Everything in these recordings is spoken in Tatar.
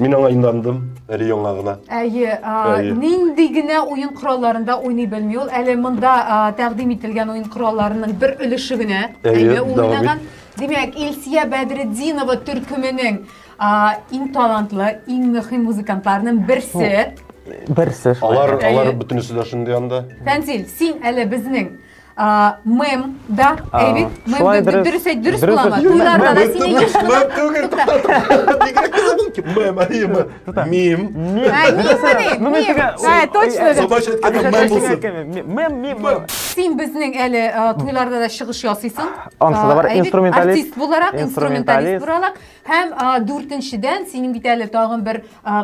Мин аңа индандым, әле яңа гына. Әйе, нинди генә уен коралларында уйный белми ул. Әле монда тәкъдим ителгән уен коралларының бер өлеше генә. Әйе, уйнаган. Димәк, Илсия Бәдретдинова төркеменең иң талантлы, иң мөһим музыкантларының берсе. Берсе. Алар, алар бөтенесе дә шундый анда. Фәнзил, син әле безнең Мэм, да, Эйвид, мэм, дөрес әйт, дөрес буламы? Туйларда да син еш Мэм түгел. Бигрәк кызыгым ки, мэм, әйеме? Мим. Мим. Мим. Ә, точно. Субаш әйткәндә мэм булсын. Мэм, мим. Син безнең әле туйларда да чыгыш ясыйсың. Ансыда бар инструменталист. Артист буларак, инструменталист буларак. Һәм дүртенчедән, синең бит әле тагын бер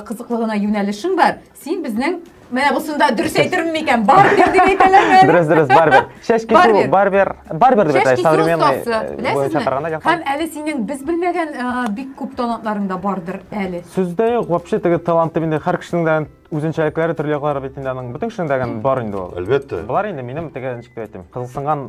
кызыклы гына юнәлешең бар. Син безнең Менә бусында дөрес әйтермен микән? Барбер дип әйтәләрме? Дөрес, дөрес, барбер. Чәч кисү, барбер, барбер дип әйтә, современный буенча караганда. Һәм әле синең без белмәгән бик күп талантларың да бардыр әле. Сүздә юк, вообще теге таланты инде һәр кешенең дә үзенчәлекләре төрле яклары бит инде аның. Бөтен кешенең дә бар инде ул. Әлбәттә. Болар инде минем теге ничек дип әйтим, кызыксынган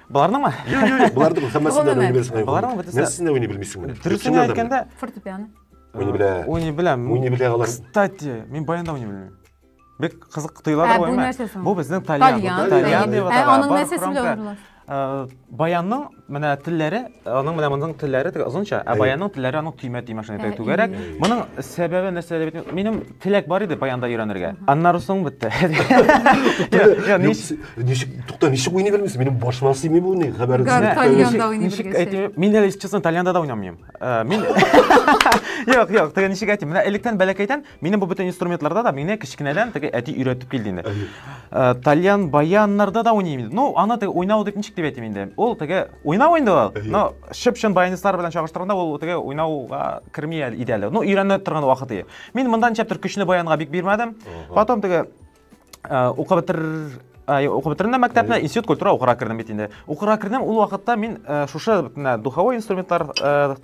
Боларның ма? Юк, юк, юк, боларның хаммасын да уйный белсең. Боларның бит. Нәрсәсен дә уйный белмисең менә. Дөресен әйткәндә, фортепиано. Уйный белә. Уйный белә. Уйный белә алар. Кстати, мин баянда уйный белмим. Бик кызык тоела да уйма. Бу безнең тальян. Тальян дип атала. Аның нәрсәсе белән уйнала? баянның менә телләре аның менә моның телләре теге озынча ә баянның телләре аның төймә төймә шундый түгәрәк моның сәбәбе нәрсәдә минем Теләк бар иде баянда өйрәнергә. Аннары соң бетте. Ничек, тукта, ничек уйный белмисең? Минем башыма сыймый бу ни хәбәр. Тальянда уйный белгәнсең. Мин әле честно тальянда да уйнамыйм. Э, мин Юк, юк, теге ничек әйтим? Менә электән бәләкәйдән минем бу бөтен инструментларда да мине кечкенәдән теге әти өйрәтеп килде инде. Э, тальян, баяннарда да уйныйм инде. Ну, аны теге уйнау дип ничек дип әйтим инде? Ул теге уйнау инде ул. Но чып-чын баянистлар белән чагыштырганда ул теге уйнауга керми иде әле. Ну, өйрәнә торган вакыты. Мин монда ничәптер көчне баянга бик бирмәдем. Потом теге укып бетер укып бетердем мәктәпне, институт культура укырга кердем бит инде. Укырга кердем, ул вакытта мин шушы бөтенләй духовой инструментлар,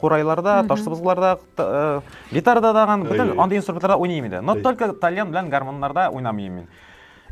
курайларда, таш сыбызгыларда, гитарада даган, бөтен андый инструментларда уйныйм иде. Но только тальян белән гармоннарда уйнамыйм мин.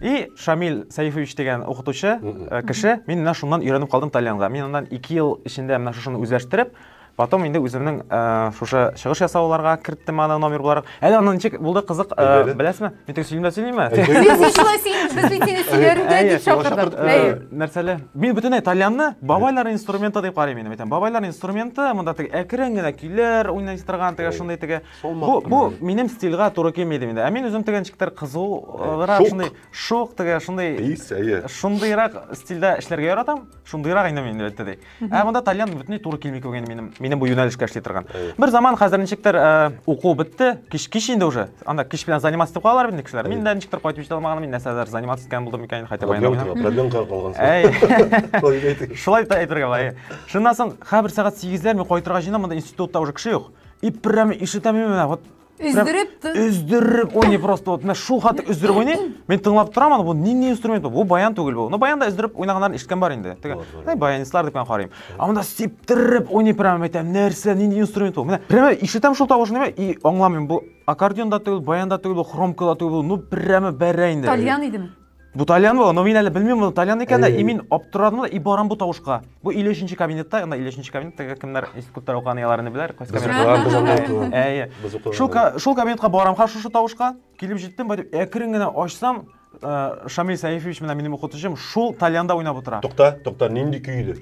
И Шамил Сәйфович деген укытучы, кеше, мин менә шуннан өйрәнеп калдым тальянга. Мин аннан 2 ел эчендә менә шушыны үзләштереп, Потом инде үземнең э, шушы чыгыш ясауларга керттем аны номер буларак. Әле аны ничек булды кызык, э, Әйдәле. беләсезме? Мин тек сөйлим дә сөйлим. Әйдәле. Син шулай син без бит сине сөйләргә Әйе, дип чакырдык. э, Әйе. Нәрсәле? Мин бөтенләй тальянны бабайлар инструменты дип карыйм инде. Әйтәм, бабайлар инструменты, монда теге әкрен генә көйләр уйный торган, теге шундый теге. Солмак Бу бу кына. минем стильгә туры килми идем инде. Ә мин үзем теге ничектер кызулрак Шук. шундый шук теге шундый Ис, әйе. шундыйрак стильдә эшләргә яратам. Шундыйрак инде мин әлбәттә ди. Ә монда тальян бөтенләй туры килми күгән минем минем бу юнәлешкә эшли торган. Бер заман хәзер ничектер э, уку бетте, кич кич инде уже. Анда кич белән заниматься итеп калалар инде кешеләр. Мин дә ничектер кайтып җитә алмаганым, мин нәрсәдер заниматься иткән булдым икән, хәтта баянда. Проблемка калган. Әй. Шулай да әйтергә була. Шуннан соң хәбер сәгать 8-ләр мин кайтырга җыенам, монда институтта уже кеше юк. И прямо ишетәм мин менә вот Өздереп ты. Өздереп уйный просто. Вот менә шул хәтле өздереп уйный. Мин тыңлап торам аны, бу нинди инструмент бу? Бу баян түгел бу. Ну баянда өздереп уйнаганнарын ишеткән бар инде. Теге, ну баянистлар дип карыйм. А монда сиптереп уйный прямо әйтәм, нәрсә, нинди инструмент бу? Менә прямо ишетәм шул тавышны и аңламыйм бу аккордеон да түгел, баян да түгел, хромка да түгел, ну прямо бәрә инде. Тальян идеме? Бу Тальян бу, но мин әле белмим моны Тальян икән дә, и мин аптырадым да, и барам бу тавышка. Бу 53-нче кабинетта, анда 53-нче кабинеттагы кемнәр институттар укыган яларны беләр, кайсы кабинет. Әйе. Шул шул кабинетка барам ха шушы тавышка, килеп җиттем, бай дип әкрен генә ачсам, Шамил Сәйфович менә минем укытучым шул Тальянда уйнап утыра. Тукта, тукта, нинди көйле?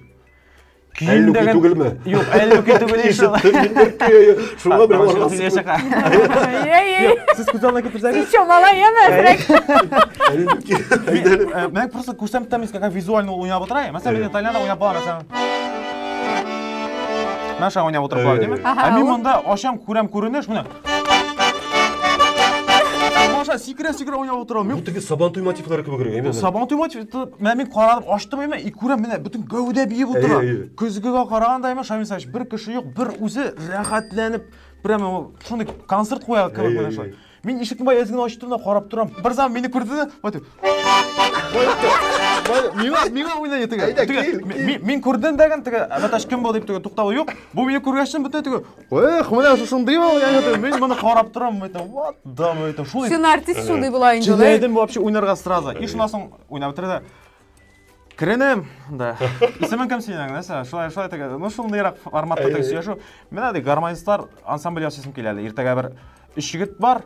Әллүки түгелме? Юк, әллүки түгел ишел. Шуңа бер аргасыз. Сез күз алдына китерсәгез. Еще мала яме. Әллүки. Мен просто күрсәм там искага визуально уйнап утыра. Мәсәлән, мен Италиядә уйнап бара, мәсәлән. Мәшә уйнап утырып бара, димме? Ә мин монда ашам, күрәм күренеш, менә. Маша, сикерә сикерә уйнап отырам. Бу теге сабан туй мотивлары кебегрәк, әйме. Сабан туй мотивы, менә мин карадым, ачтым әйме, и күрәм, менә бөтен гәүдә биеп утыра. Көзгегә караганда әйме, Шамил Саевич, бер кеше юк, бер үзе рәхәтләнеп, прямо шундый концерт куя кебек менә шулай. Мин ишекне бай әзгене ачтым да карап торам. Бер заман мине күрде дә, вот. Миңа миңа уйна итеге. Әйдә, кил. Мин күрдем дәген теге, Наташ кем бу дип теге туктавы юк. Бу мине күргәчтен бөтен теге Эх, менә шушындый ул, я әйтәм, мин моны карап торам, мин әйтәм, what the, мин әйтәм, шул Син артист шундый була инде. Җилләдем вообще уйнарга сразу. И шуннан соң уйнап бетерде. Керенем, да. Исемең кем синең, нәрсә? Шулай, шулай тәгә. Ну, шундыйрак форматта тәгә сөйләшү. Менә ди гармонистлар ансамбль ясыйсым килә әле. Иртәгә бер өч егет бар,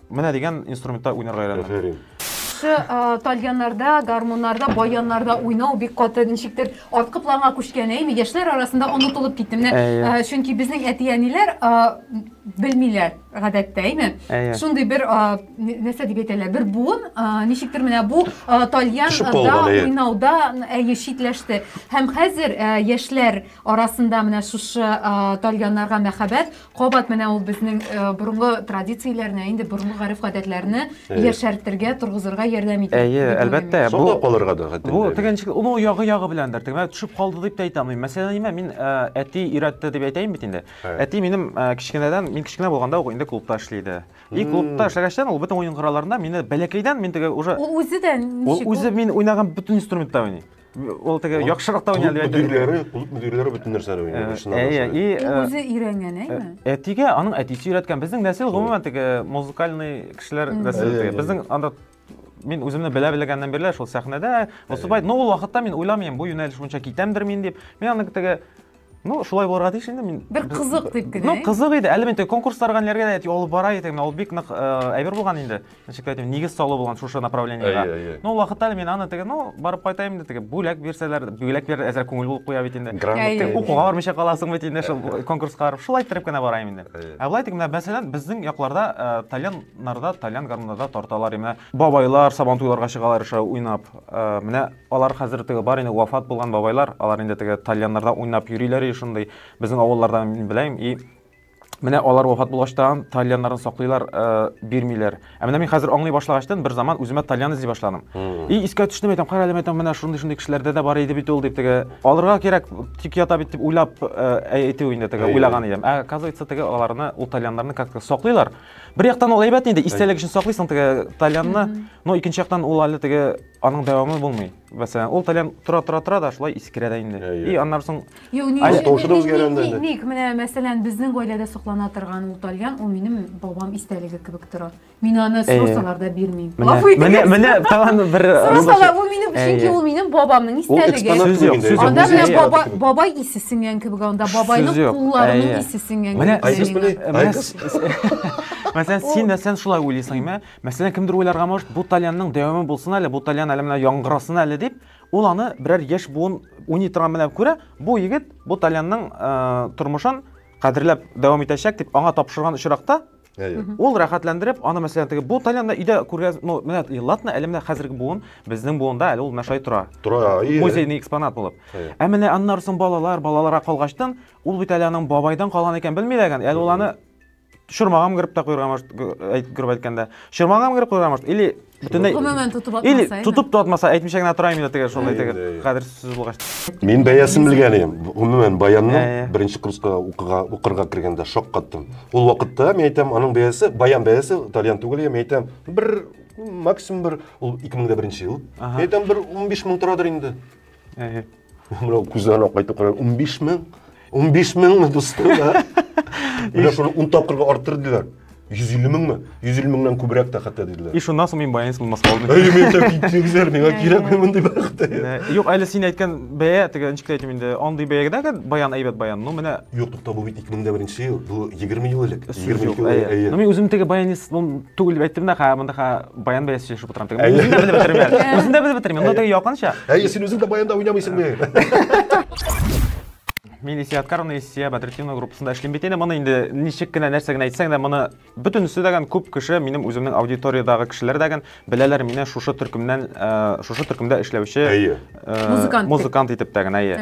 Менә дигән инструментта уйнарга өйрәндем. Афәрин. Шушы а, тальяннарда, гармуннарда, баяннарда уйнау бик каты ничектер арткы планга күчкән, әйме? Яшьләр арасында онытылып китте. Менә Әйе. а, чөнки безнең әти-әниләр а, белмиләр гадәттә, әйме? Әйе. Шундый бер а, ни- нәрсә дип әйтәләр, бер буын а, ничектер менә бу а, тальян Төшеп да калган, әйе. уйнауда әйе читләште. Һәм хәзер а, яшьләр арасында менә шушы а, тальяннарга мәхәббәт Кабат менә ул безнең э, борынгы традицияләрне, инде борынгы гариф-гадәтләрне Әйе. яшәртергә, торгызырга ярдәм итә. Әйе, дип уйлыйм әлбәттә. мин. Саклап калырга да хәтта. Бу тегенчек ул ул ягы ягы беләндер. Тегемә төшеп калды дип тә әйтә алмыйм. Мәсәлән, нимә мин ә, әти өйрәтте дип әйтәйм бит инде. Әйе. Әти минем ә, кечкенәдән, мин кечкенә булганда ук инде клубта эшли иде. И клубта эшләгәчтән ул бөтен уен коралларында мине бәләкәйдән мин теге уже Ул үзе дә Ул ничек? үзе мин уйнаган бөтен инструментта уйный. Ул теге яхшырак та уйный әлбәттә. Мөдирләре, клуб мөдирләре бөтен нәрсәне уйный. Әйе, и үзе өйрәнгән, әйме? Әтигә аның әтисе өйрәткән. Безнең нәсел гомумән теге музыкальный кешеләр нәселе. Безнең анда мин үземне белә белгәннән бирле шул сәхнәдә Мосубай, но ул вакытта мин уйламыйм, бу юнәлеш буенча китәмдер мин дип. Мин аны теге ну шулай булырга тиеш инде мин бер кызык дип кенә ну кызык иде әле мин конкурсларга ниләргә дә алып бара идем ул бик нык э, әйбер булган инде ничек әйтим нигез салу булган шушы направлениега ну вакытта әле мин аны теге ну барып кайтайм инде теге бүләк бирсәләр бүләк бир әзер күңел булып куя бит инде грамота укуга бармыйча каласың бит инде шул конкурска барып шулай иттереп кенә барайм инде ә былай теге менә мәсәлән безнең якларда э, тальяннарда тальян гармуннарда тарталар менә бабайлар сабантуйларга чыгалар уйнап э, менә Алар хәзер теге бар инде вафат булган бабайлар, алар инде теге тальяннарда уйнап йөриләр и шундый. Безнең авылларда мин беләм и Менә алар вафат булгач та тальяннарын саклыйлар, э, бирмиләр. Ә менә мин хәзер аңлый башлагачтан бер заман үземә тальян эзли башладым. И искә төште мәйтәм, кара әле мәйтәм, менә шундый шундый кешеләрдә дә бар иде бит ул дип теге. Алырга кирәк, тик ята бит дип уйлап э, әйтү инде теге уйлаган идем. Ә оказывается теге аларны ул тальяннарны как-то саклыйлар. Бер яктан ул әйбәт инде, истәлек өчен саклыйсың теге тальянны, но икенче яктан ул әле теге аның дәвамы булмый. Мәсәлән, ул тәләм тора-тора-тора да шулай искерә дә инде. Әйе. И аннан соң Юк, ни Ай, өчен- тавышы да ни- үзгәрә ни- анда ни- инде. Ник, менә, мәсәлән, безнең гаиләдә соклана торган ул тальян, ул минем бабам истәлеге кебек тора. Мин аны Әйе. сорасалар да бирмим. Менә, Гафу итегез. менә, менә тагын бер Сорасалар, ул минем, чөнки Әйе. ул минем бабамның Ул истәлеге. экспонат Сүз кебек юк, инде. сүз юк. Анда Музей менә экспонаты баба, кебек. бабай исе сеңгән кебек, анда Сүз бабайның юк, кулларының әйе. исе сеңгән Менә кебек. Айгыз Синең- белән- Менә Айгыз. с- Мәсәлән, син мәсәлән шулай уйлыйсың, ме? Мәсәлән, кемдер уйларга может, бу тальянның дәвамы булсын әле, бу тальян әле менә яңгырасын әле дип, ул аны берәр яшь буын уйный торган белән күрә, бу егет бу тальянның тормышын кадерләп дәвам итәчәк дип аңа тапшырган очракта, ул рәхәтләндереп, аны мәсәлән теге бу тальянны өйдә күргәз, ну, менә ладно, әле менә хәзерге буын, безнең буында әле ул менә шулай тора. Тора, ие. Музейный экспонат булып. Ә менә аннары соң балалар, балаларга калгачтын, ул бит әле аның бабайдан калган икән, белми дә әле ул аны Шырмагам кырып та куярга может, кырып әйткәндә. Шырмагам кырып куярга может, или бөтенләй Гомумән тотып атмаса. Или тотып та атмаса, әйтмичә генә торам инде теге шулай теге кадер сүз булгач. Мин бәясен белгән идем. Гомумән баянны беренче курска укыга укырга кергәндә шок каттым. Ул вакытта мин әйтәм, аның бәясе, баян бәясе тальян түгел, мин әйтәм, бер максимум бер ул 2001 ел. Мин әйтәм, бер 15 мең торадыр инде. мынау күзәнәк кайтып карай он биш мең он биш меңме дустым да менә шуны он тапкырга арттыр диләр йөз илле меңме йөз илле меңнән күбрәк тә хәтта диделәр и шуннан соң мин баянец булмаска алдым әй мен тә китсеңзәр миңа кирәкми мондый бәхет юк әле син әйткән бәя теге ничек әйтим инде андый бәягә дә баян әйбәт баян ну менә юк тукта бу бит ике мең дә беренче ел бу егерме ел элек егерме ике ел элек әйе ну мин үзем теге баянец түгел дип әйттем дә монда баян белән сөйләшеп утырам теге үзен дә белеп бетермә үзен дә белеп бетермә но теге якынча әйе син үзең дә баянда уйнамыйсың бе мин исия откаровна исия бәдретдинова группасында эшлим бит инде моны инде ничек кенә нәрсә генә әйтсәң дә моны бөтенесе дәгән күп кеше минем үземнең аудиториядагы кешеләр дәгән беләләр мине шушы төркемнән э, шушы төркемдә эшләүче э, музыкант музыкант итеп тә генә әйе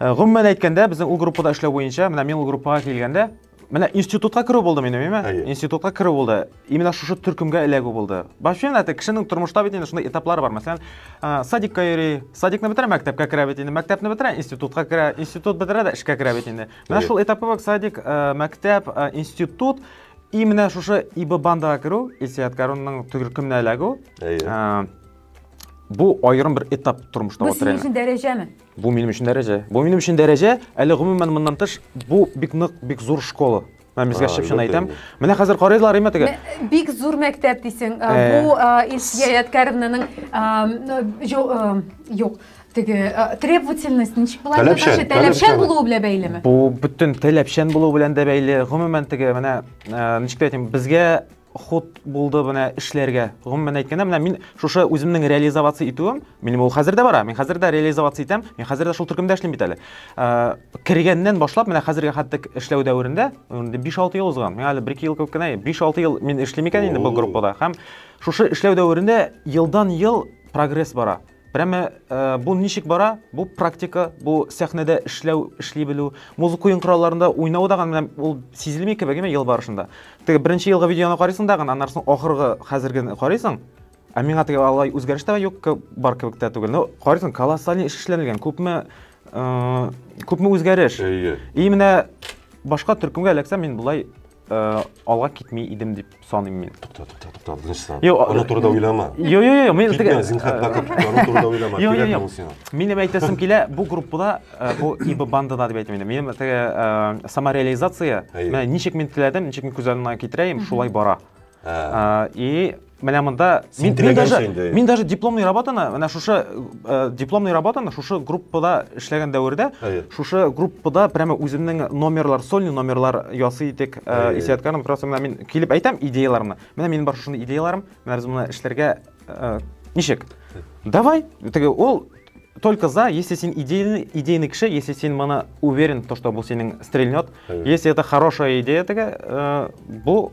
Гомумән әйткәндә, безнең ул группада эшләү буенча, менә мин ул группага килгәндә, Менә институтка керү булды минем, әйме? Әйе. Институтка керү булды. Именно шушы төркемгә эләгү булды. Вообще менә әйтә, кешенең тормышта бит инде шундый этаплар бар. Мәсәлән, ә, садикка йөри, садикны бетерә, мәктәпкә керә бит инде, мәктәпне бетерә, институтка керә, институт бетерә дә эшкә керә бит инде. Менә Әйе. шул этапы бак садик, ә, мәктәп, ә, институт и менә шушы ИБ бандага керү, Илсият Карунның төркеменә эләгү. Әйе. Ә, бу аерым бер этап тормышта Бу вот синең реально. өчен дәрәҗәме? Бу минем өчен дәрәҗә. Бу минем өчен дәрәҗә, әле гомумән моннан тыш, бу бик нык, бик зур школа. Мен безгә чып-чын әйтәм. Менә хәзер карыйлар име теге? Бик зур мәктәп дисең. Э. Бу э, Илсия Яткәревнаның э, юк, теге требовательность ничек була? Таләпчән, таләпчән булуы белән бәйлеме? Бу бөтен таләпчән булуы белән дә бәйле. Гомумән теге менә ничек әйтим, безгә хут булды менә эшләргә. Гомумән әйткәндә, менә мин шушы үземнең реализация итүем, минем ул хәзер дә бара. Мин хәзер дә реализация итәм. Мин хәзер дә шул төркемдә эшлим бит әле. Ә, кергәннән башлап менә хәзергә хәтта эшләү дәверендә 5-6 ел узган. Миңа әле 1-2 ел күп кенә. 5-6 ел мин эшлим икән инде бу группада. Һәм шушы эшләү дәверендә елдан-ел прогресс бара. Прямо э, бу ничек бара? Бу практика, бу сәхнәдә эшләү, эшли белү, музыка уен коралларында уйнау да гына ул сизелми кебек ел барышында. Теге беренче елгы видеоны карыйсың да гына, аннан соң ахыргы хәзергене карыйсың. Ә миңа теге алай үзгәреш тә юк, бар кебек тә түгел. Ну, карыйсың, колоссальный эш эшләнелгән, күпме э, күпме үзгәреш. И менә башка төркемгә эләксәм, мин болай Э, алга китми идем дип саныйм мин тукта тукта тукта тынычлан аны турыда уйлама жок жок жок мен китме зинхар бака аны турыда уйлама кирәкме ул сиңа мин эми әйтәсем килә бу группада э, бу ибо бандада дип әйтәм инде минем теге э, самореализация менә ничек мин теләдем ничек мин күз алдына китерәем шулай бара Ә. И менә монда мин даже мин даже дипломный работаны менә шушы э, дипломный работаны шушы группада эшләгән дәвердә шушы группада прямо үземнең номерлар сольный номерлар ясый идек э, исәткәнем просто менә мин килеп әйтәм идеяларымны менә минем бар шушы идеяларым менә без моны эшләргә э, ничек давай теге ул только за, если син идейный, идейный кеше, если син мана уверен, то, что бу синең стрельнет. Если это хорошая идея, теге, э, бу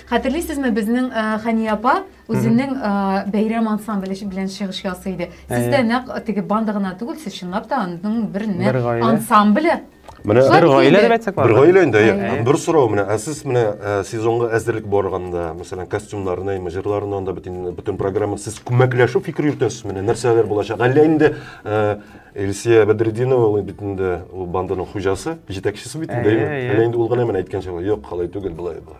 Хәтерлисезме, безнең э, Хәния апа үзенең э, бәйрәм ансамбле белән чыгыш ясый иде. Сез дә нәкъ теге банда гына түгел, сез чынлап та аның бер Бер гаилә. ансамбле. Менә Шулай бер бит гаилә инде. дип әйтсәк бер гаилә инде. Гаилә. әйе. Бер сорау менә, ә сез менә ә, сезонга әзерлек барганда, мәсәлән, костюмнарны, имя, җырларны анда бөтен бөтен программа сез күмәкләшү фикер йөртәсез менә, нәрсәләр булачак? Әллә инде ә, Эльсия Бәдретдинова ул бит инде ул банданың хуҗасы, җитәкчесе бит инде. Әйе, әйе. Әллә инде ул гына менә әйткәнчә, юк, алай түгел, былай, былай.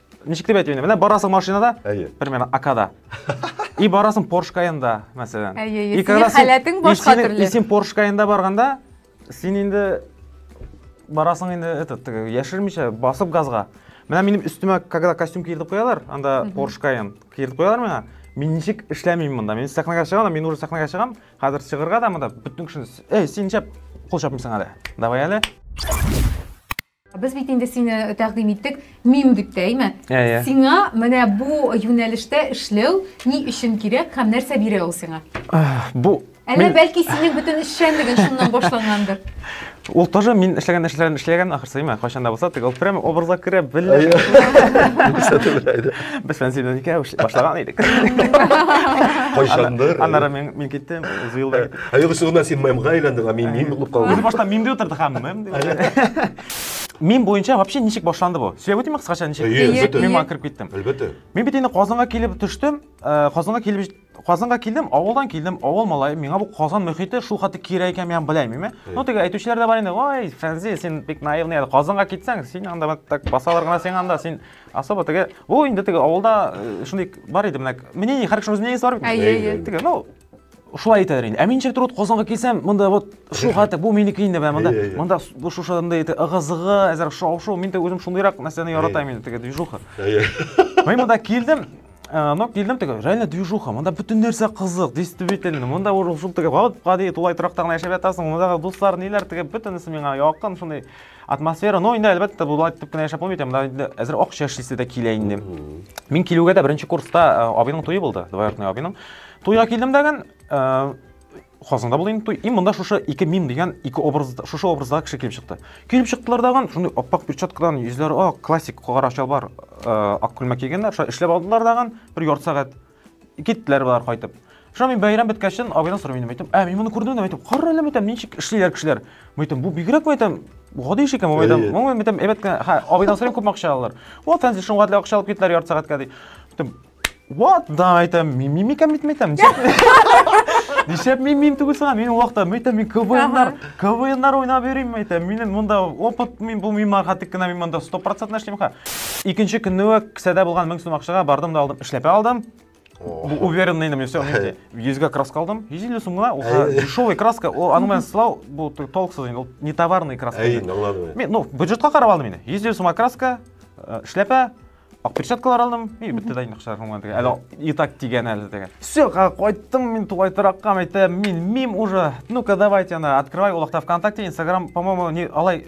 ничек дип әйтим инде менә барасың машинада әйе примерно акада и барасың порш каенда мәсәлән әйе и синең халәтең башка төрле и син порш каенда барганда син инде барасың инде этот яшермичә басып газга менә минем өстемә когда костюм киертеп куялар анда порш каен киертеп куялар миңа мин ничек эшләмим монда мин сәхнәгә чыгам мин уже сәхнәгә чыгам хәзер чыгырга да монда бөтен кешене эй син ничек кул чапмыйсың әле давай әле Без бит инде сине тәкъдим иттек мим дип тә, әйме? Ә, ә. Сиңа менә бу юнәлештә эшләү ни өчен кирәк һәм нәрсә бирә ул сиңа? Бу Әллә бәлки синең бөтен эшчәнлеген шуннан башлангандыр? Ул тоже мин эшләгән нәрсәләрен эшләгән ахрысы, әйме? Кайчан да булса, тик ул прямо образга керә белә. Без белән синең икәү башланган идек. Кайчандыр. Аннары мин киттем, Зуил да китте. Ә юк, шугына син мемга әйләндең, ә мин мим булып калдым. Без башта мим дип утырдык, һәм мем дип. Мим буенча вообще ничек башланды бу? Сөйләп үтимме кыскача ничек? Әлбәттә. Мим аңа кереп киттем. Әлбәттә. Мин бит инде Казанга килеп төштем, э, Казанга килеп Казанга килдем, авылдан килдем, авыл малае, миңа бу Казан мөхите шул хәтле кирәк икән, мин белмим. Ну, теге әйтүчеләр дә бар инде, ой, Фәнзи, син бик наивный, Казанга китсәң, син анда так басалар гына син анда, син особо теге, бу инде теге авылда э, шундый бар иде, менә, мнение, һәркемнең үз мнениесе бар бит. Әйе, әйе. Теге, ну, шулай итәләр инде ә мин ничектер вот казанга килсәм монда вот шу хәтта бу минеке инде менә монда монда шу шундай итеп ыгы зыгы әзер шау шу мин дә үзем шундыйрак нәрсәне яратам инде теге движуха мин монда килдем но килдем теге реально движуха монда бөтен нәрсә кызык действительно монда уже шул теге гади тулай торакта гына яшәп ятасың мондагы дуслар ниләр теге бөтенесе миңа якын шундай атмосфера ну инде әлбәттә болай итеп кенә яшәп булмый икән инде әзер акча эшлисе дә килә инде мин килүгә дә беренче курста э, абыйның туе булды двоюродный абыйның туйга килдем дәген э, хасында булды инде туй и монда шушы ике мим дигән ике образ шушы образда кеше килеп чыкты килеп чыктылар даган шундый аппак перчаткадан йөзләре ак классик кара чалбар э, ак күлмәк кигәннәр шулай эшләп алдылар даган бер ярты сәгать Киттеләр болар кайтып. Шуна мин бәйрәм беткәчтен абыйдан сорыйм инде, әйтәм, ә мин моны күрдем инде, әйтәм, кара әле әйтәм, ничек эшлиләр кешеләр. Әйтәм, бу бигрәк әйтәм, гади эш икән, әйтәм, моңа әйтәм, әйбәт кенә, ха, абыйдан сорыйм күпме акча алалар. Ват, фәнзи шуңа дә акча алып киттеләр ярты сәгатькә ди. Әйтәм, ват да әйтәм, мин мим икән бит әйтәм. Нишләп мин мим түгел сага, мин вакытта әйтәм, мин КВНнар, КВНнар уйнап йөрим әйтәм. Минем монда опыт мин булмыйм, хатык кына мин монда 100% эшлим ха. Икенче көнне үк кесәдә булган 1000 сум акчага бардым да алдым. Эшләпә алдым. Бу уверенный инде, все, мендә. Йөзгә краска алдым. 150 сум гына, ул Әй. дешевый краска, ул аның белән сылау, бу т- толксыз инде, ул не товарный краска. Әй, инде. аңладым. Мин, ну, бюджетка карап алдым инде. 150 сумга краска, э, эшләпә, ак перчаткалар алдым. И, бетте дә инде акчалар һәм теге. Әле и так тигән әле теге. Все, кайттым мин тугай торакка, әйтәм, мин мим уже. Ну-ка, давайте ана, открывай, ул вакытта ВКонтакте, Инстаграм, по-моему, не алай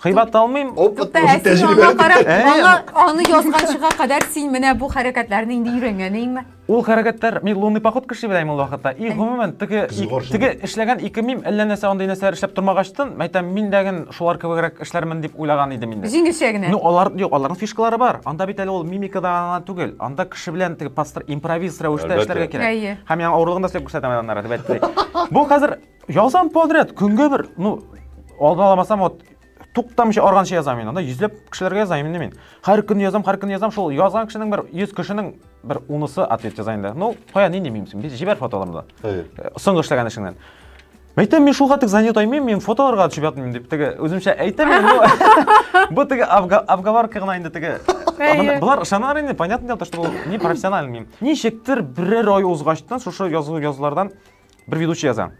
Кыйбат алмыйм. Опыт Ә син аңа карап, Ә, аңа аны язганчыга кадәр син менә бу хәрәкәтләрне инде өйрәнгәнеңме? Ул хәрәкәтләр мин лунный поход кеше белән ул вакытта. И гомумән теге теге эшләгән ике мим әллә нәрсә андый нәрсәләр эшләп тормагачтын, мәйтәм мин дә ген шулар кебегрәк эшләрмен дип уйлаган идем инде. Җиңелчә генә. Ну алар юк, аларның фишкалары бар. Анда бит әле ул мимикада гына түгел. Анда кеше белән теге пастор импровиз рәвештә эшләргә кирәк. Һәм яңа авырлыгын да сөйләп күрсәтәм аннары дип әйтте. Бу хәзер Язам подряд, көнгә бер, ну, алдын аламасам, вот, туктамыйча арганча язам мин анда йөзләп кешеләргә язам инде мин һәр көн язам һәр көн язам шул язган кешенең бер йөз кешенең бер унысы ответ яза инде ну кая нинди мимсең без җибәр фотоларымды э, соңгы эшләгән эшеңнән Мәйтәм, мин шуга тек занят аймыйм, мин фотоларга төшеп ятмыйм дип теге үземчә әйтәм инде. Бу теге обговорка гына инде теге. Булар ышаналар инде, понятное дело, что бу не профессиональный мим. Ничектер берәр ай узгачтан шушы язу язулардан Бер ведущий яза.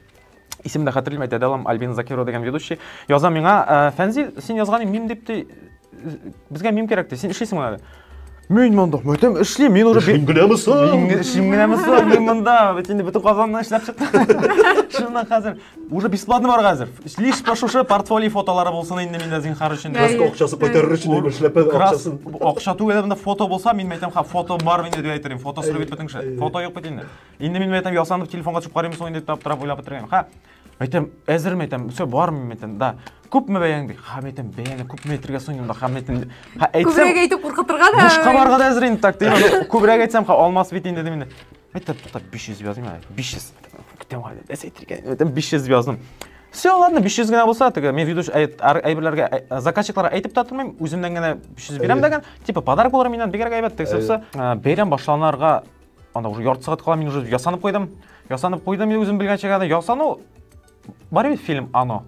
Исемне дә хәтерлим, әйтә дә алам, Альбина Закирова дигән ведущий. Яза миңа, «Ә, Фәнзил, син язган мим дип ти, безгә мим кирәк ди, син эшлисең монда. Мин монда, мәтәм эшлим, мин уже Эшлим генәме соң? Мин ге- эшлим генәме соң, мин монда, бит инде бөтен Казанны эшләп чыктым. Шуннан хәзер уже бесплатно бар хәзер. Лишь по шушы портфолио фотолары булсын инде миндә зинхар өчен. Әй. Краска акчасы кайтарыр өчен әйбер эшләп Крас, акчасын. акча түгел, монда фото булса, мин мәйтәм, ха, фото бар инде дип әйтерим, фото сөреп бит бөтен кеше. Фото юк бит инде. Инде мин әйтәм, ясанып телефонга төшеп карыйм соң инде дип аптырап уйлап утырган. Ха. Әйтәм, әзерме әйтәм, все бармы әйтәм, да. Күпме бәяң ди? Ха, әйтәм, бәяне күпме әйтергә соң инде, ха, әйтәм. Ха, әйтсәм. Күбрәк әйтеп куркытырга да. Бушка барга да әзер инде так дим. Күбрәк әйтсәм, ха, алмас бит инде дим инде. Әйтәм, туктап 500 языйм әле. 500. Көтәм әле. Дәс әйтергә. Әйтәм, 500 яздым. Все, ладно, 500 генә булса, теге, мен виду әйберләргә ә, заказчикларга әйтеп тә тормыйм, үземнән генә 500 бирәм дәгән, типа подарок булыр миннән, бигрәк әйбәт, тегесе булса, бәйрәм башланарга Анда уже ярты сәгать кала, мин уже ясанып куйдым. Ясанып куйдым, үзем белгәнчә генә ясану. Бар бит фильм Ано.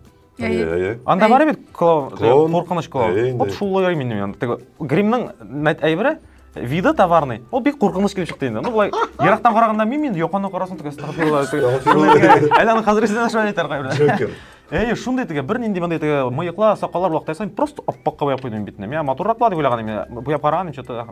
Анда бар бит клоун, куркыныч клоун. Вот шул ярый минем янда. Теге гримның әйбере виды товарный. Ул бик куркыныч килеп чыкты инде. Ну былай ерактан караганда мин мин яканы карасын төгәс тагыла. Әле аны хәзер исенә шулай әйтәр гайбрә. Джокер. Әй, шундый теге бер нинди мондый теге мыеклар, сакаллар вакыт просто аппакка буяп куйдым битне. Миңа матуррак була дип уйлаган идем. Буяп караган идем, что-то.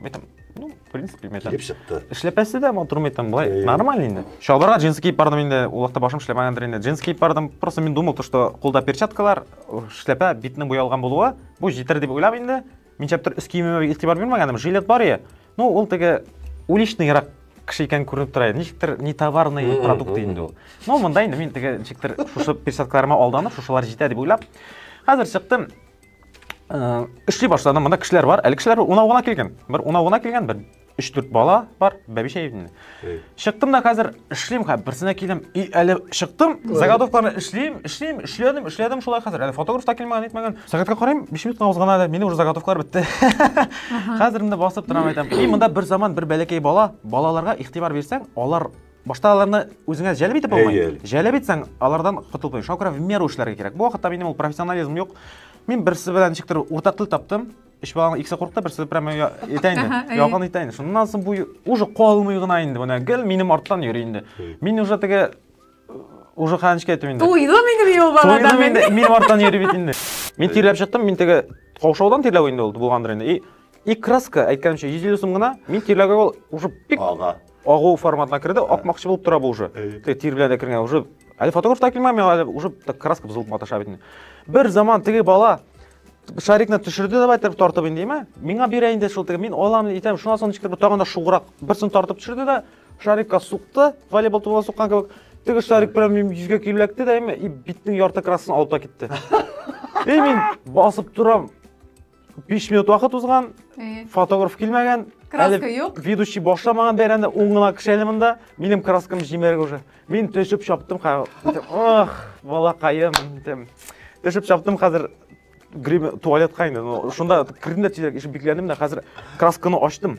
Ну, в принципе метр килеп чыкты эшләпәсе дә матур метр былай нормально инде чалбарга джинсы киеп бардым инде ул вакытта башым эшләмәгәндер инде джинсы киеп бардым просто мин думал то что кулда перчаткалар эшләпә битнең буялган булуы бу җитәр дип уйлап инде мин чаптыр өс киемемә игътибар бирмәгәнем жилет бар иә ну ул теге уличныйрак кеше икәнен күренеп тора иде ничектер не товарный продукт инде ул ну мында инде мин теге ничектер шушы перчаткаларыма алданып шушылар җитә дип уйлап хәзер чыктым эшли башладым мында кешеләр бар әле кешеләр унау гына килгән бер унау гына килгән бер өч дүрт бала бар бәбишә инде чыктым да хәзер эшлим хәзер берсенә килдем и әле чыктым заготовкаларны эшлим эшлим эшләдем эшләдем шулай хәзер әле фотограф та килмәгән нитмәгән сәгатькә карыйм биш минутка узган әле минем уже заготовкалар бетте хәзер менә басып торам әйтәм и монда бер заман бер бәләкәй бала балаларга игътибар бирсәң алар Башта аларны үзеңә җәлеп итеп булмый. Әйе. Җәлеп итсәң, алардан котылып Шуңа күрә в меру эшләргә кирәк. Бу вакытта минем ул профессионализм юк. Мин берсе белән ничектер уртак тел таптым. Өч баланың икесе курыкты, берсе прямо я- итә инде. Әйе. Ялган итә инде. Шуннан соң бу уже калмый гына инде. Менә гел минем арттан йөри инде. Әйе. Мин уже теге э, уже хәнечкә әйтү инде. Туйды минем юл балада Туйдым мин. инде, минем арттан йөри бит инде. Мин тирләп чыктым, мин теге каушаудан тирләү инде ул булгандыр инде. И, и краска, әйткәнемчә, 150 сум гына, мин тирләүгә ул уже бик Ага. Агу форматына керде, акмакчы булып тора бу уже. Тик тир белән дә кергән уже. Әле фотограф та килмәми, әле уже так краска бозылып маташа бит. Бер заман теге бала шарикны төшерде давай дип тартып инде, ме? Миңа бирә инде шул теге, мин алам итәм. Шуннан соң ничектер тагын да шуграк берсен тартып төшерде дә шарикка сукты, волейбол тубына суккан кебек. Теге шарик белән мин йөзгә киләкте дә, ме? И битнең ярты краскасын алып та китте. И мин басып торам, 5 минут вакыт узган, э. фотограф килмәгән, краска юк. Ведущий башламаган бәйрәмдә ун гына кеше әле монда. Минем краскам җимерек уже. Мин төшеп чаптым хәзер. Ох, балакаем. Төшеп чаптым хәзер грим туалетка инде. Шунда кердем дә тизрәк ишек бикләдем дә хәзер красканы ачтым.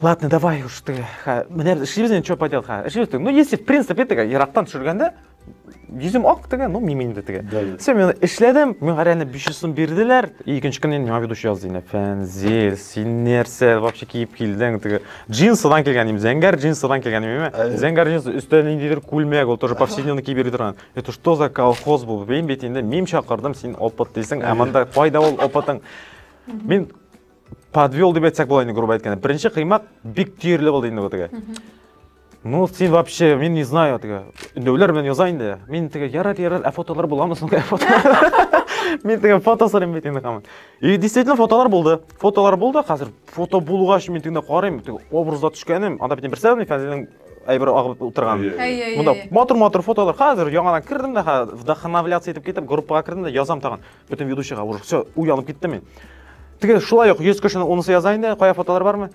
Ладно, давай уж ты. Ха, менә эшлибез инде, что поделать, ха. Эшлибез. Ну, если в принципе теге ерактан төшергәндә, йөзем ак теге, ну, мимин дә теге. Да, да. Все, мен эшләдем, миңа реально 500 сум бирделәр. И икенче көнне миңа ведущий язды инде. Фәнзил, син нәрсә вообще киеп килдең теге? Джинсыдан килгән идем, зәңгәр джинсыдан килгән идем. Ә, ә. Зәңгәр джинс өстә ниндидер күлмәк, ул тоже повседневный киеп йөри торган. Это что за колхоз бу? Мин бит инде мим чакырдым, син опыт дисең, ә монда кайда ул опытың? Мин подвел дип әйтсәк була инде грубо әйткәндә беренче кыймак бик төерле булды инде теге ну син вообще мин не знаю теге өндәүләр белән яза инде мин теге ярар ярар ә фотолар буламы соң ә фотолар мин теге фото сорыйм бит инде камын и действительно фотолар булды фотолар булды хәзер фото булгач мин тегендә карыйм теге образда төшкәнем анда бит берсә фәнилнең әйбер агып утырган монда матур матур фотолар хәзер яңадан кердем дә вдохновляться итеп китеп группага кердем дә язам тагын Бөтен ведущийга уже все, уянып киттем мин. Теге шулай ук 100 кешенең унысы яза инде, кая фотолар бармы?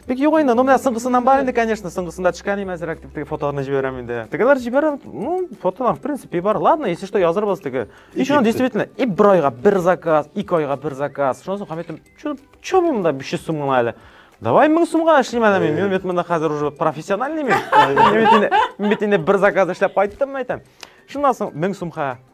Бик юк инде, ну менә соңгысыннан бар инде, конечно, соңгысында төшкән име әзрәк дип теге фотоларны җибәрәм инде. Тегеләр җибәрә, ну, фотолар в принципе бар. Ладно, если что, язырбыз теге. И шуны действительно, и бер айга бер заказ, ике айга бер заказ. Шуны соң Хамитем, чё, чё монда 500 сум гына әле? Давай 1000 сумга эшлим әле мин. Мин бит монда хәзер уже профессиональный мин. Мин бит инде бер заказ эшләп кайттым, әйтәм. Шуннан соң 1000 сумга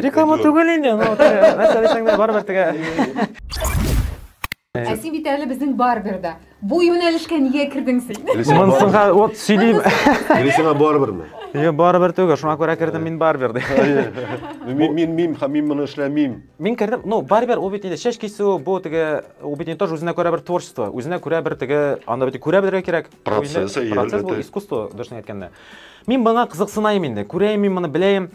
Реклама түгел инде, ну, нәрсә дисәң дә барыбер тегә. Ә син бит әле безнең барберда. Бу юнәлешкә нигә кердең син? Монсынга вот сөйлим. Грисима барберме? Йо, барыбер түгел, шуңа күрә кердем мин барбер ди. Мин мин мин һәм мин моны эшләмим. Мин кердем, ну, барбер ул бит инде чәч кисү, бу теге ул бит не тоже үзенә күрә бер творчество, үзенә күрә бер теге анда бит күрә белергә кирәк. Процесс, Процесс бу искусство, дөресен әйткәндә. Мин моңа кызыксынайм инде, күрәем мин моны, беләем.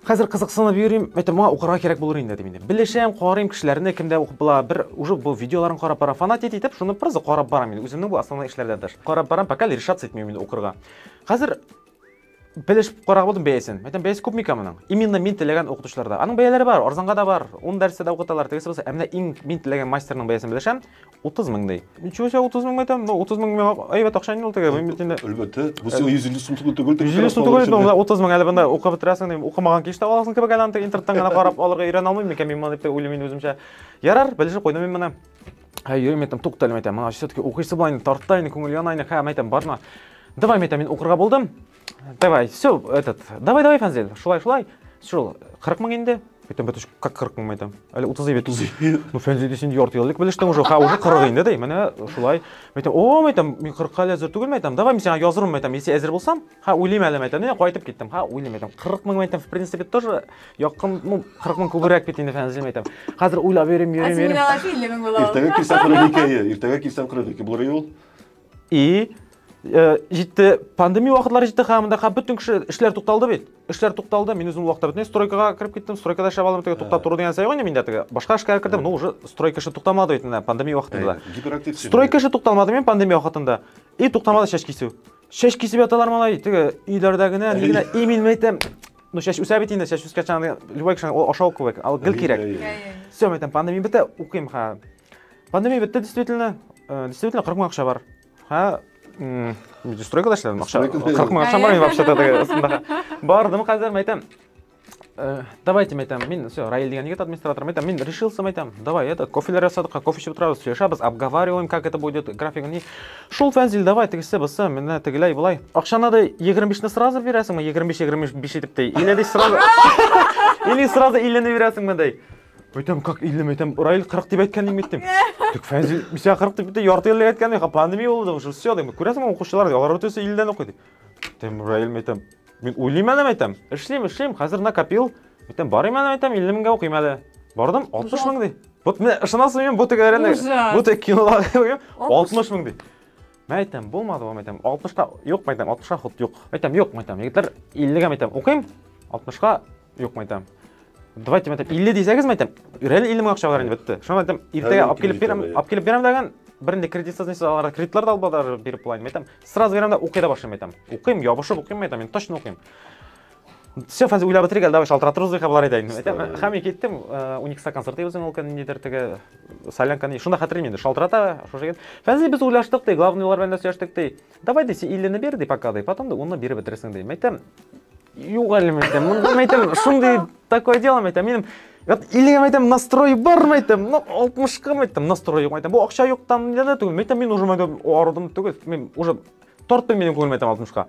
Хәзер кызыксынып йөрим, әйтәм, моңа укырга кирәк булыр инде дим инде. Белешәм, карыйм кешеләрне, кемдә укып була, бер уже бу видеоларын карап барам, фанатит итеп, шуны просто карап барам инде, үземнең бу основной эшләрдән тыш. Карап барам, пока решаться итмим инде укырга. Хәзер белешеп карап алдым бәясен. Әйтәм, бәясе күп микән моның? Именно мин теләгән укытучыларда. Аның бәяләре бар, арзанга да бар, 10 дәрестә дә укыталар, тегесе булса. Ә менә иң мин теләгән мастерның бәясен белешәм. 30 мең ди. Ничего себе, 30 мең әйтәм, ну 30 мең миңа әйбәт акча инде ул теге, мин бит инде. Әлбәттә, бу сиңа 150 сум түгел түгел. 150 сум түгел, бу 30 мең әле бында укып бетерәсең дим, укымаган кич тә аласың кебек әле аны интернеттан гына карап алырга өйрәнә алмыйм микән мин моны дип уйлыйм мин үземчә. Ярар, белешеп куйдым мин моны. Һәй, йөрим әйтәм, туктале әйтәм, моны все-таки укыйсы була инде, тарта инде, күңел яна инде, һәм әйтәм, барма. Давай, әйтәм, мин укырга булдым. Давай, все, этот, давай, давай, Фанзель, шулай, шулай. Шул, 40 мың инде. Әйтәм, бәтүш, как 40 мың әйтәм. Әле 30 бит. 30. Ну, Фәнзель дисен ярты еллык белештең уже, ха, уже 40 инде ди. Менә шулай. Әйтәм, о, әйтәм, мин 40-ка әле әзер түгел әйтәм. Давай мин сиңа язырмын әйтәм, если әзер булсам. Ха, уйлыйм әле әйтәм. Менә кайтып киттем. Ха, уйлыйм әйтәм. 40 мың әйтәм, в принципе, тоже якын, ну, 40 мың күбрәк бит инде Фәнзель әйтәм. Хәзер уйлап йөрим, йөрим, йөрим. Иртәгә килсәм 42 ел, иртәгә килсәм 42 булыр ел. И э, җитте пандемия вакытлары җитте һәм монда бөтен кеше эшләр тукталды бит эшләр тукталды мин үзем вакытта бөтен стройкага кереп киттем стройкада эшләп алдым теге туктап тору дигән сәй ғой миндә теге башка эшкә кердем ну уже стройка эше туктамады бит менә пандемия вакытында гиперактив стройка эше тукталмады мин пандемия вакытында и туктамады чәч кисү чәч кисеп яталар малай теге өйләрдә генә ни генә и мин әйтәм ну чәч үсә бит инде чәч үскәч любой кешенең ашау кебек ал гел кирәк все мен әйтәм пандемия бетә укыйм ха Пандемия бетте, действительно. Э, действительно, 40 мың акча бар. Һә, стройкада эшләдем, акча. 40 мың акча бар, вообще астында. Бардым хәзер, мәйтәм. Э, давайте, мәйтәм, мин, все, Раил дигән егет администратор, мәйтәм, мин решился, мәйтәм, давай, это, кофелер ясадык, кофе эчеп утырабыз, сөйләшәбез, обговариваем, как это будет, графигы ни. Шул фәнзил, давай, тегесе, бысы, менә тегеләй, былай. Акча надо 25-ны сразу бирәсеңме, 25-25 итеп тей, или дей сразу, или сразу 50-ны бирәсеңме, дей. Өйтем 40 50 метем, Раил 40 дип әйткән инде дип. Тик Фәнзил бисә 40 дип бит ярты ел әйткән инде, пандемия булды уже, все дип. Күрәсең укучылар, алар өтесе 50 дән укый дип. Тем Раил әйтәм. Мин уйлыйм әле әйтәм. Эшлим, эшлим, хәзер накопил. Әйтәм, барыйм әле әйтәм, 50 меңгә укыйм әле. Бардым, 60 мең ди. Вот мен ышанасызмы, мен бу тек әрәне, бу тек кинолар, 60 мең ди. Мә әйтәм, булмады бу, мәйтәм, 60-ка юк, мәйтәм, 60-ка ход юк. Мәйтәм, юк, мәйтәм, егетләр 50-гә мәйтәм, укыйм, 60-ка юк, мәйтәм. Давайте, мәйтәм, 50 дисәгез, мәйтәм, реально 50 мең акча бар инде, бетте. Шуңа мәйтәм, иртәгә алып килеп бирәм, алып килеп бирәм дигән, бернинди кредитсыз нисез аларга кредитлар да алып сразу бирәм мәйтәм, укый да башлыйм мәйтәм. Укыйм, ябышып укыйм мәйтәм, мин точно укыйм. все хәзер уйлап бетерик әле давай шалтыратырбыз бихә болар әйтә инде хәми киттем уникста концерт үзең ул көн нидер теге солянканы шунда хәтерлим инде шалтырата шушы фәнзи без уйлаштык ди главныйлар белән дә сөйләштек ди давай ди син иллене бир ди пока ди потом да уны биреп бетерсең ди мәйтәм юк әле мәйтәм монда мәйтәм шундый такое дело мәйтәм минем Вот, или я айтам настрой бар ма айтам ну алтмышка ма айтам настрой юк айтам бу акча юктан да түгел мәйтәм мин уже мәйтәм арыдым түгел мен уже тартпыйм минем күңелем айтам алтмышка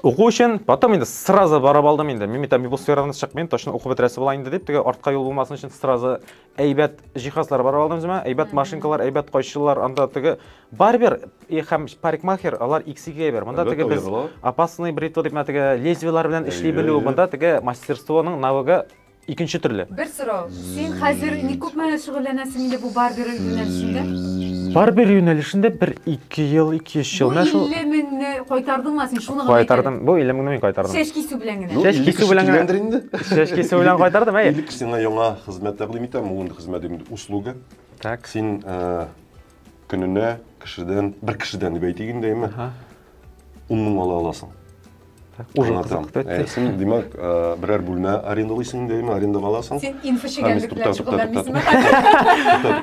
Уку өчен, потом инде сразу барып алдым инде. Мин бит бу сферадан чыкмыйм, точно укып бетерәсе була инде дип, теге артка юл булмасын өчен сразу әйбәт җиһазлар барып алдым үземә, әйбәт машинкалар, әйбәт кайчылар, анда теге барбер и һәм парикмахер, алар иксиге әйбер. Монда теге без опасный бритва дип, менә теге лезвиелар белән эшли белү, монда теге мастерствоның навыгы Икенче төрле. Бер сорау. Син хәзер ни күпме шөгыльләнәсең инде бу барбер юнәлешендә? Барбер юнәлешендә бер ике ел, ике өч ел. Бу 50 меңне кайтардыңмы син? Шуны гына Кайтардым. Бу 50 меңне мин кайтардым. Чәч кисү белән генә. Чәч кисү белән генә. инде. Чәч кисү белән кайтардым, әйе. Илик сиңа яңа хезмәт тәкъдим итәм. Ул инде хезмәт инде услуга. Так. Син көненә кешедән, бер кешедән дип әйтик инде, әйме, ун мең ала аласың. Уже кызык бетте. Син, димәк, берәр бүлмә арендалыйсың инде, әйме, арендаға аласың. Син инфочегәнлек белән шөгыльләнмисеңме?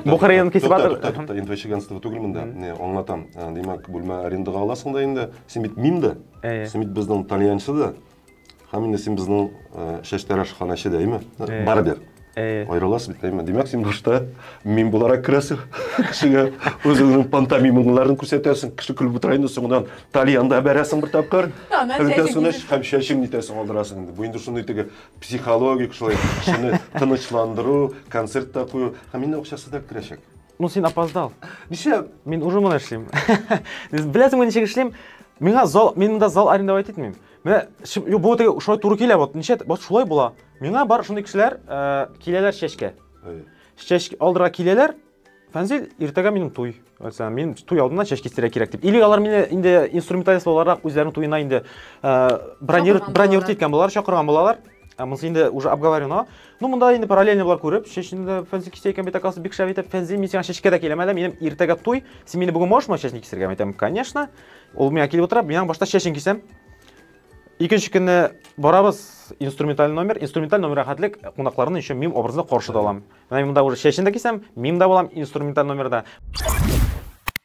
Бу кырыен кисеп атыр. Инфочегәнство түгел монда. Не, аңлатам. Димәк, бүлмә арендаға аласың да инде. Син бит мим да. Син бит безнең тальянчы да. Һәм инде син безнең э, шәштәрә шханәче дәйме? Э, Барыбер. Э. Аерыласыз бит дәйме? Димәк, син башта мин буларак керәсең. Кешегә үзеңнең пантомимыңларын күрсәтәсең, кеше көлеп утыра инде, соңыннан тальянда бәрәсең бер тапкыр. Бөтәсенә һәм чәчең нитәсең алдырасың инде. Бу инде шундый теге психологик шулай кешене тынычландыру, концерт та кую. Һәм инде акчасы да керәчәк. Ну, син опоздал. Нишләп? Мин уже моны эшлим. Беләсеңме ничек эшлим? Миңа зал, мин монда зал арендовать итмим. Менә бу теге шулай туры килә, вот ничә, вот шулай була. Миңа бар шундый кешеләр э, киләләр чәчкә. Чәчкә алдыра киләләр. Фәнзил, иртәгә минем туй. Әйтсәм, мин туй алдына чәч кистерә кирәк дип. Или алар мине инде инструменталист буларак үзләренең туена инде э, бронировать иткән булалар, чакырган булалар. Ә монысы инде уже обговорено. Ну, монда инде параллельно булар күреп, чәчне дә фәнзи кисә икән бит, акасы бик шәп итеп фәнзи, мин сиңа чәчкә дә киләм әле, минем иртәгә туй, син мине бүген можешь моя чәчне кисергә? Мин әйтәм, конечно. Ул миңа килеп утыра, мин башта чәчен кисәм. Икенче көнне барабыз инструменталь номер, инструменталь номер рәхәтлек кунакларны еще мим образында каршы да алам. Менә монда уже чәчен дә кисәм, мим да булам инструменталь номерда.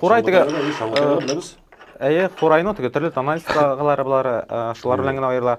Курай теге Әйе, курайны теге төрле тональскалары булары, шулар белән генә аерыла.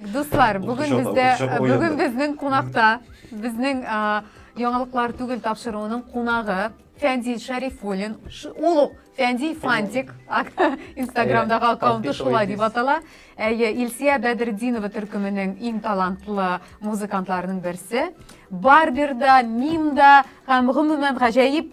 Дуслар, бүген бездә бүген безнең кунакта безнең яңалыклар түгел тапшыруының кунагы Фәндил Шәрифуллин. Ул ук Фәндил Фантик Инстаграмдагы аккаунты шулай дип атала. Әйе, Илсия Бәдердинова төркеменең иң талантлы музыкантларының берсе. Барберда, Мимда һәм гомумән гаҗәеп